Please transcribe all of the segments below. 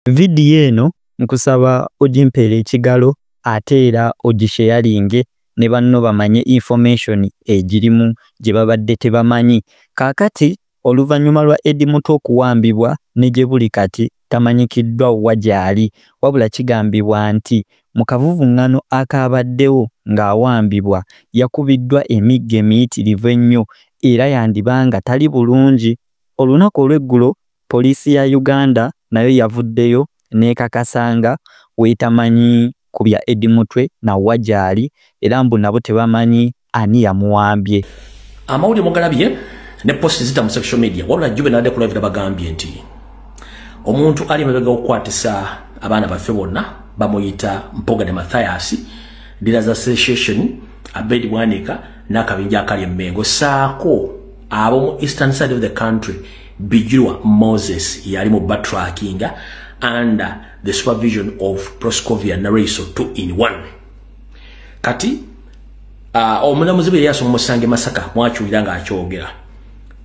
Vidiyo eno nkusaba ogimpeere ekigalo ate era ogisheyalinge ne banno bamanye information egirimu gye babadde tebamanyi. Kaakati oluvannyuma lwa Eddy Mutwe okuwambibwa ne gye buli kati tamanyikiddwa wa gy'ali wabula kigambibwa nti mu kavuvung'ano akaabaddewo ng'awambibwa yakubiddwa emiggo emiyitirivu ennyo era yandiba nga tali bulungi. Olunaku olw'eggulo Poliisi ya Uganda nayo yavuddeyo n'ekakasa nga w'etamanyi ku bya Eddie Mutwe na wa gy'ali era mbu nabo tebamanyi ani yamuwambye. Amawulire mugalabye ne posti zita mu social media wabula Jube n'adde ku live nabagambye nti omuntu ali emabega okukwatisa abaana baffe bonna bamuyita mpoga ne mathayasi dealers association abed bwanika n'akabinja akali emmengo saako ab'omu eastern side of the country Bijirwa Moses yali mu batrackinga under the supervision of Proscovia Nareso 2 in 1. Kati, uh, omulamuzi bwe yasoma musange Masaka mwakiwira nga akyogera.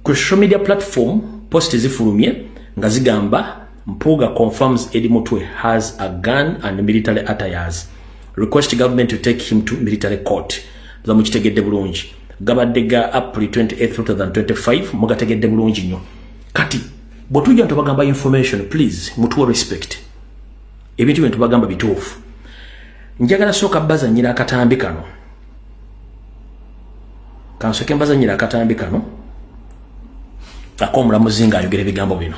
Ku social media platform post zifulumye nga zigamba Mpuga confirms Eddie Mutwe has a gun and military attires. Request government to take him to military court. Zamuchitegede bulungi. gabadde ga april 2825 mugategedde bulungi nnyo kati bwetujja ntubagamba information please mutuwa respect ebintu bintu bagamba bituufu njagala sooka bazanyira akatambi kano kansoke mbazanyira akatambi kano akomulamuzi nga ayogera ebigambo bino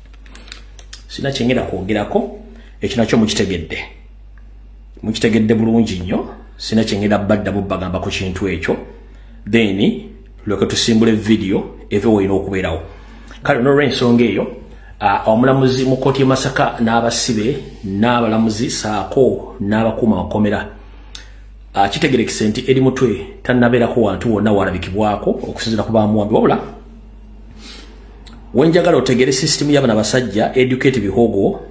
sina kyengera kwogerako ekyo nakyo mukitegedde mukitegedde bulungi nnyo sina kyengera badda bubagamba ku kintu ekyo then lweke tusimbule vidiyo eve wolina okubeerawo kale nolwensonga eyo omulamuzi mu kooti yemasaka n'abasibe n'abalamuzi saako n'abakuuma makomera kitegerekese nti eri mutwe tannabeerako wantu wonna walabikibwako okusinzira ku bamuwambi wabula wenjagala otegere system yabana basajja educate bihogo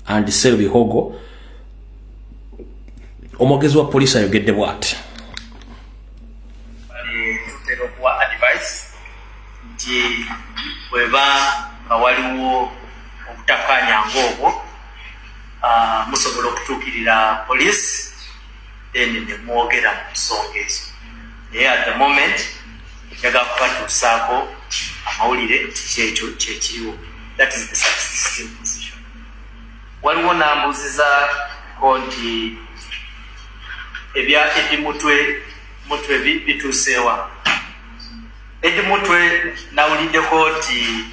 and sell bihogo omwogezi wa police ayogedde bwati weba nga waliwo obutakanya ngaobwo ah, musobola okutuukirira police then nemwogera mu nsonga ezo naye at the moment njaga kubatuusaako amawulire kyekyo kyekiriwo that is the subsisting position waliwo nambuuziza ko nti ebya edi mutwe mutwe bituuseewa edi mutwe nawuliddeko nti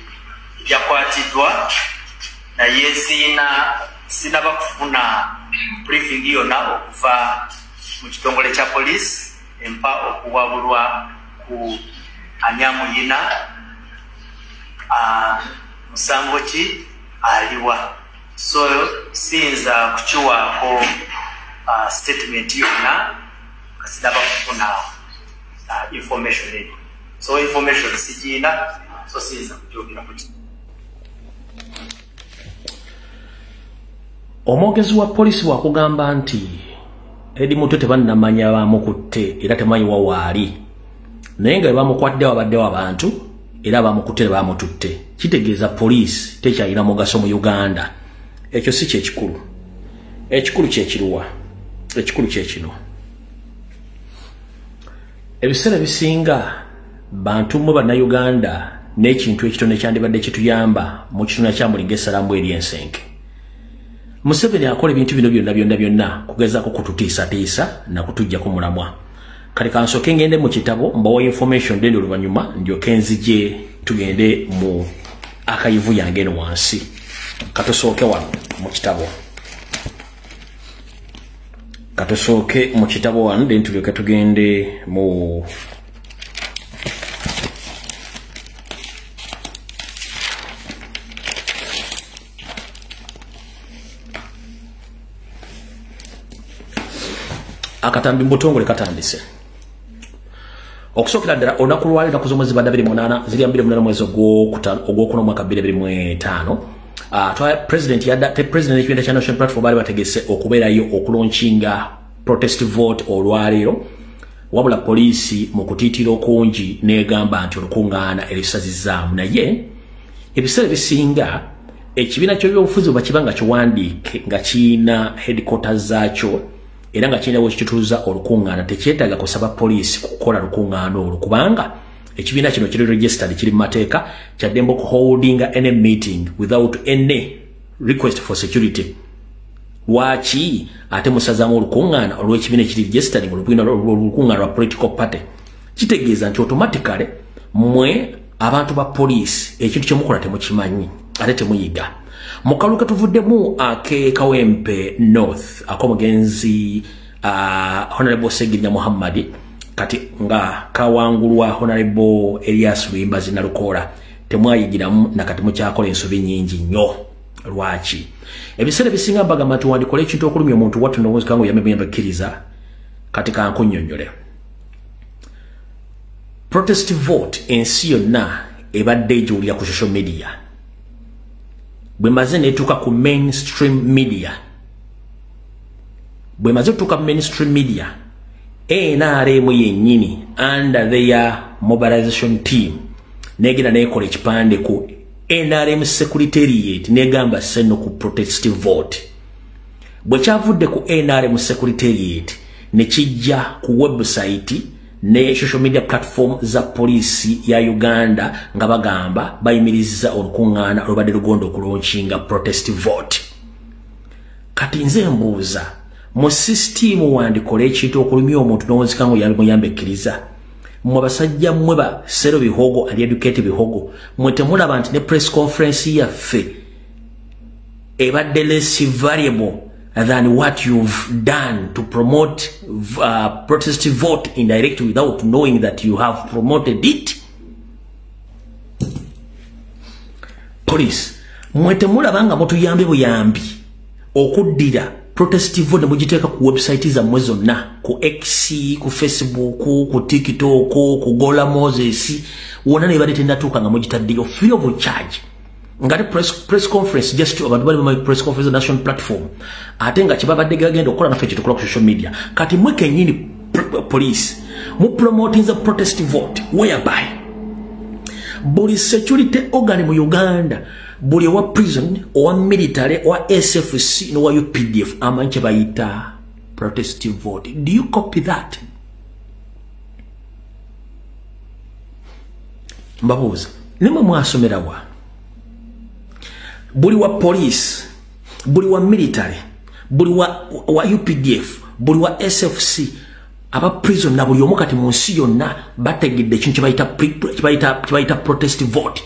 yakwatiddwa naye siina sinaba kufuna briefing yona okuva mu kitongole kya poliisi empa okuwabulwa ku anyamuyina ah, musango ki aliwa so siyinza kukiwaako ah, statement yona kasinaba kufuna ah, information eyo so information sigiina so siyinza kujogerako kino omwogezi wa polisi wakugamba nti edi mutwe tebannamanya bamukutte era temanyi wawaali naye nga bebamukwatde wabaddewo abantu era bamukutte nebamututte kitegeeza poliisi tekyalina mugaso mu uganda ekyo si kyekikulu ekikulu kyekiruwa ekikulu kyekino ebiseera bisinga bantu mwe bannayuganda n'ekintu ekitono ekyandibadde kituyamba mu kituna kya mulinga esalamu eri ensenke museveni akola ebintu bino byonna byonna byonna kugezaako kututiisatiisa nakutujjako mulamwa kati kansooke ngende mu kitabo mbawa information dende oluvannyuma ndyoke nzije tugende mu akayivu yange eno wansi katusooke wano mu kitabo katusooke mu kitabo wano then tulyoke tugende mu akatambi mubutongole katandise okusookera ddala olunaku lwali naku z'omwezi banda 28 zirya 28 mwezi ogwokuna omwaka 25 ah, president yadda te president ekibinda kya national platform baali bategese okubeerayo okulonkinga protest vote olwaleero wabula poliisi mu kutiitira okungi n'egamba nti olukuŋŋaana erisazizaamu naye ebiseera ebisinga ekibiina ky'ebyobufuzi bwe bakiba nga kiwandiike nga kirina headquarters zaakyo era nga kirina wekitutuuza olukuŋŋaana tekyetaaga kusaba poliisi kukola lukuŋŋaana olwo kubanga ekibiina kino kiri registered kiri mu mateeka kyaddembe okuholdinga any meeting without any request for security lwaki ate musazamu olukuŋŋaana olw'ekibiina ekiri registered olubina olukuŋŋaana lwa political party kitegeeza nti automatically mwe abantu ba poliisi ekintu kyemukola temukimanyi ate temuyiga mukalu ketuvuddemu akekawempe north akomugenzi uh, honorable segirinya muhammadi kati nga kawangulwa honorable elias luyimbazi nalukoola temwayigiramu nakati mukyakola ensobi nyingi nnyo lwaki ebiseera ebisinga mbagamba nti wandikola ekintu okulumya omuntu watunowozikango yamemuyambe kkiriza kati kankunyonyole protest vote ensi yonna ebadde egiwulira ku social media bwemaze netuuka ku mainstream media bwemaze otuuka mu mainstream media nrm yennyini under their mobilization team negenda nekola ekipande ku nrm secretariat negamba seno ku protest vote bwe kyavudde ku nrm secretariat ne kijja ku website ne social media platform za poliisi ya uganda nga bagamba bayimirizza olukuŋŋaana olubadde lugonda okulonkinga protest vote kati nze mbuuza mu sisitiimu wandikola ekintu okulumya omuntu nowonzika nga oyamuyamba ekkiriza mwe basajja mmwe ba sero bihogo ali educate bihogo mwe temulaba nti ne press conference yaffe ebadde less variable than what you've done to promote uh, protest vote indirect without knowing that you have promoted it police mwe temulaba nga mutuyambe buyambi okuddira protest vote ne mugiteeka ku website zammwe zonna ku x ku facebook ku tiktok ku gola moses wona nebadde tenatuuka nga mugitaddeyo free of charge ngate press, press conference just abantu bali my press conference national platform ate nga kibabadde gagenda okukola naffe kyetukola ku social media kati mwe kenyini police mu promoting the protest vote whereby buli security organ mu uganda buli owa prison owa military owa sfc nowa updf amanyi kyebayita protest vote do you copy that mbabuuza nimwe mwasomera wa buli wa poliisi buli wa military buli wa, wa updf buli wa sfc aba prison na buli omu kati mu nsi yonna bategedde ekintu kyebayita protest vote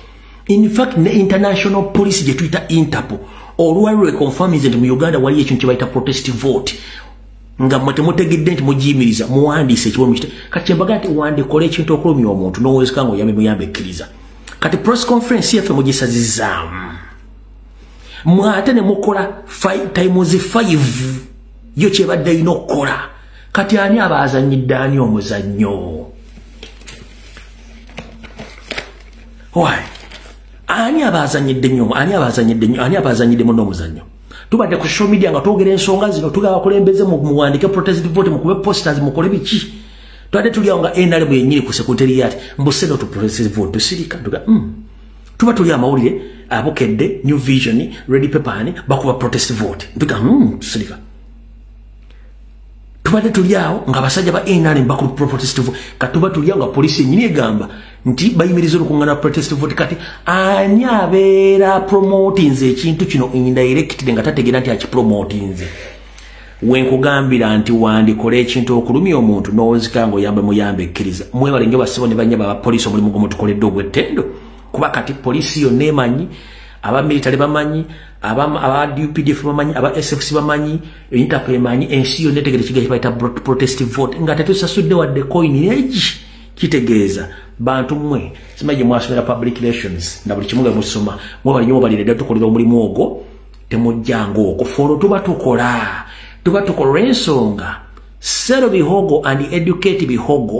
in fact ne international police gye tuyita interpol olwali lweconfirminze nti mu uganda waliyo ekintu kyebayita protest vote nga mwe temutegedde nti mugiyimiriza muwandiise ekiwe mukite kati kyembaga nti wandikola ekintu okulumya omuntu nowezeka nga oyambe muyambe ekkiriza kati press conference yaffe mugisazizaamu mwe ate ne mukola times five yo kyebadde erina okukola kati ani aba azanyidde ani omuzannyo ani aba azanyidde nyo ani aba azanyidde nyo ani aba azanyidde muno omuzannyo tubadde ku social media nga twogera ensonga zino tugaba kulembeze muwandike protest vote mukube posters mukole biki twade tuliawo nga nr bwenyini ku sekretary yati mbuseno to protest vote tusirika tuga mm. tuba tuli amawulire abukedde new vision ready paper ani bakuba protest vote tuga mm, tusirika tubadde tuli awo nga abasajja ba nrm bakulu protest vote kati tuba tuli awo nga poliisi yenyini egamba nti bayimiriza olukungana protest vote kati ani abeera promotinze ekintu kino indirectly nga tategeera nti akipromotinze wenkugambira nti wandikola ekintu okulumya omuntu nowonzika nga oyamba muyamba ekkiriza mwebale nyo basibo ne banyaba abapoliisi omulimu gumutukoledde ogwettendo kuba kati poliisi yonna emanyi abamilitale bamanyi abaupdf bamanyi aba sfc bamanyi Intapu emanyi ensi yonna etegere kiga kibayita protest vote nga tetusasudde wadde coin egi kitegeeza bantu mmwe simanyi gye mwasomera public relations na buli kimu nga musoma mwebali nyo mubalire dda tukolera omulimu ogwo temujjanga okwo fe olwo tuba tukola tuba tukola olw'ensonga sero bihogo and educate bihogo